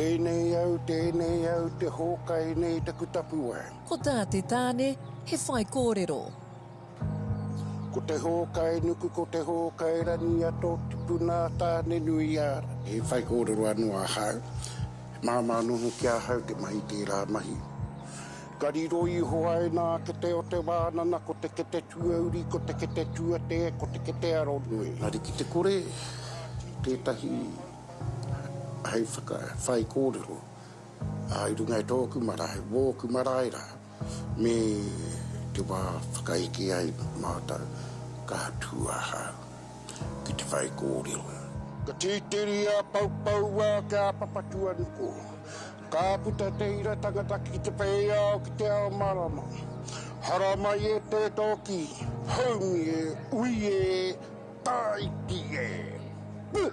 Tēnei au, tēnei au, te hōkai nei taku tapuwae. Ko tā te tāne, he whaikōrero. Ko te hōkai nuku, ko te hōkai rangi a tō tipuna a Tānenuiāra. He whaikōrero anō ahau. He māmā noho ki ahau te mahi tērā mahi. Ka riro iho ai nā kete o te wānana ko te kete tuauri, ko te kete tuatē, ko te kete aronui. Arikite-kore, tētahi hei whakawhaikōrero i runga i tōku marae, wōku marae rā, me te wā whakaeke ai mātou ka tū ahau ki te whaikōrero. Ka tītiri a Paupauwa ki a Papatuanuku. Ka puta te ira tangata ki te peiao ki te ao marama. Haramai e te toki, haumi e, ui e, taiti e! Puh!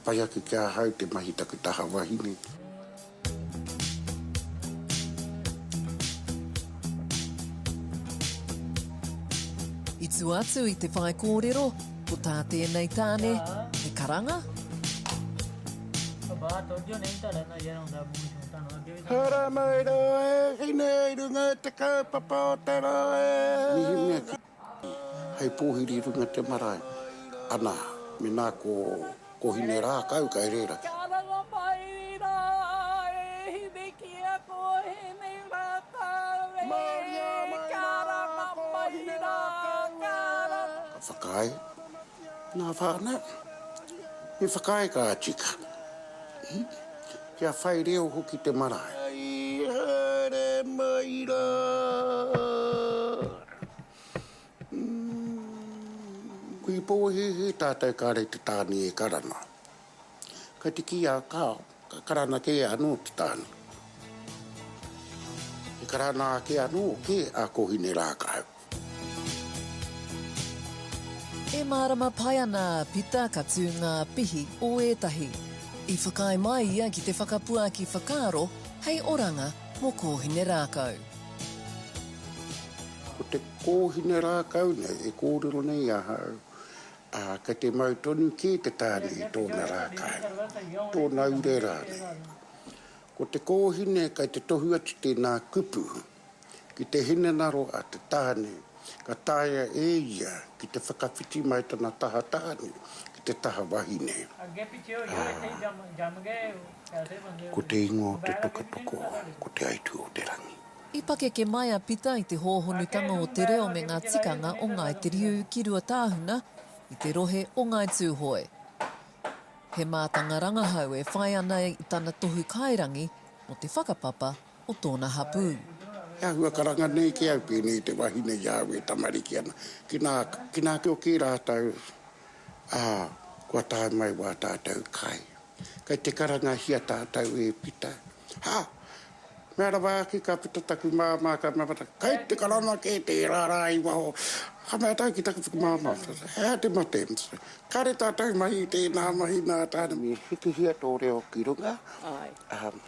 Pai ake ki ahau te mahi taku taha wahine. I tua atu i te whaikōrero, ko tā tēnei tāne he karanga. Hara mai rā e hine i runga i te kaupapa o te rohe. Hei pōhiri runga te marae. Ana, mena ko, ko hine rākau kai rera. Kia ranga mai rā e hine ki a ko hine rākau e. Maria mai rā ko hine rākau e. Ka whakaae ngā whānau. Me whakaae kā tika. Kia whai reo hoki te marae. Hei haere mai rā. Kui pōhēhē tātou kāre te tāne e karana. Kai te kī a Karl, ka karana kē anō te tāne. E karana ake anō kē a Kōhine Rākau. E mārama pai ana a Pita ka tū ngā pihi o ētahi. I whakaae mai ia ki te whakapuaki whakaaro hei oranga mō Kōhine Rākau. Ko te kōhine rākau nei e kōrero nei i ahau, ā, kei te mau tonu kē te tāne i tōna rākau, tōna ure rānei. Ko te kōhine kei te tohu atu tēnā kupu ki te hinengaro a te tāne, Ka taea e ia ki te whakawhiti mai tana taha tāne ki te taha wahine, ā, ko te ingoa o te toka tokooa ko Te Aitū o te Rangi. I pakeke mai a Pita i te hōhonutanga o te reo me ngā tikanga o Ngāi Te Riu ki Ruatāhuna, i te rohe o Ngāi Tūhoe. He mātanga rangahau e whai ana i tana tohu kairangi mō te whakapapa o tōna hapū. He āhua karanga nei ki au pēnei i te wahine i a au e tamariki ana. Ki nā, ki nā kio kī rātou, ā, kua tae mai wā tātou kai. Kei te karangahia tātou e Pita. Ha! Mea rawa ake ka puta taku māmā ka mea mata, Kei te karanga kē tērā rā i waho. Ka mea tāu ki taku whakamāmā, He aha te mate? Kāre tātou mahi i tēnā mahi nā tāna. Me hikihia tō reo ki runga, ā,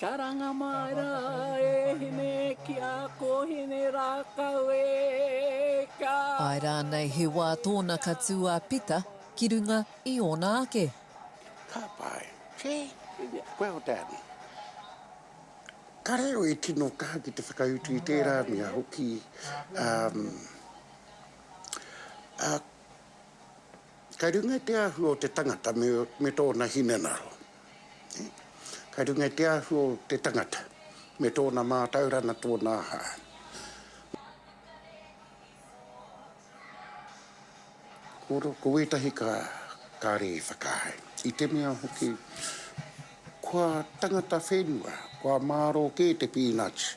Karanga mai rā e hine ki a kōhine rākau e ka. Āe rānei he wā tōna ka tū a Pita ki runga i ōna ake. Ka pai. See? Well done. Ka reo e tino kaha ki te whakautu i tērā mea hoki, umm, ā, kei runga i te āhua o te tangata me tōna hinengaro. Ka runga i te ahu o te tangata me tōna mātauranga tōna aha. Ko wētahi ka kare e whakaae, i te mea hoki kua tangata whenua, kua mārō kē te peanuts,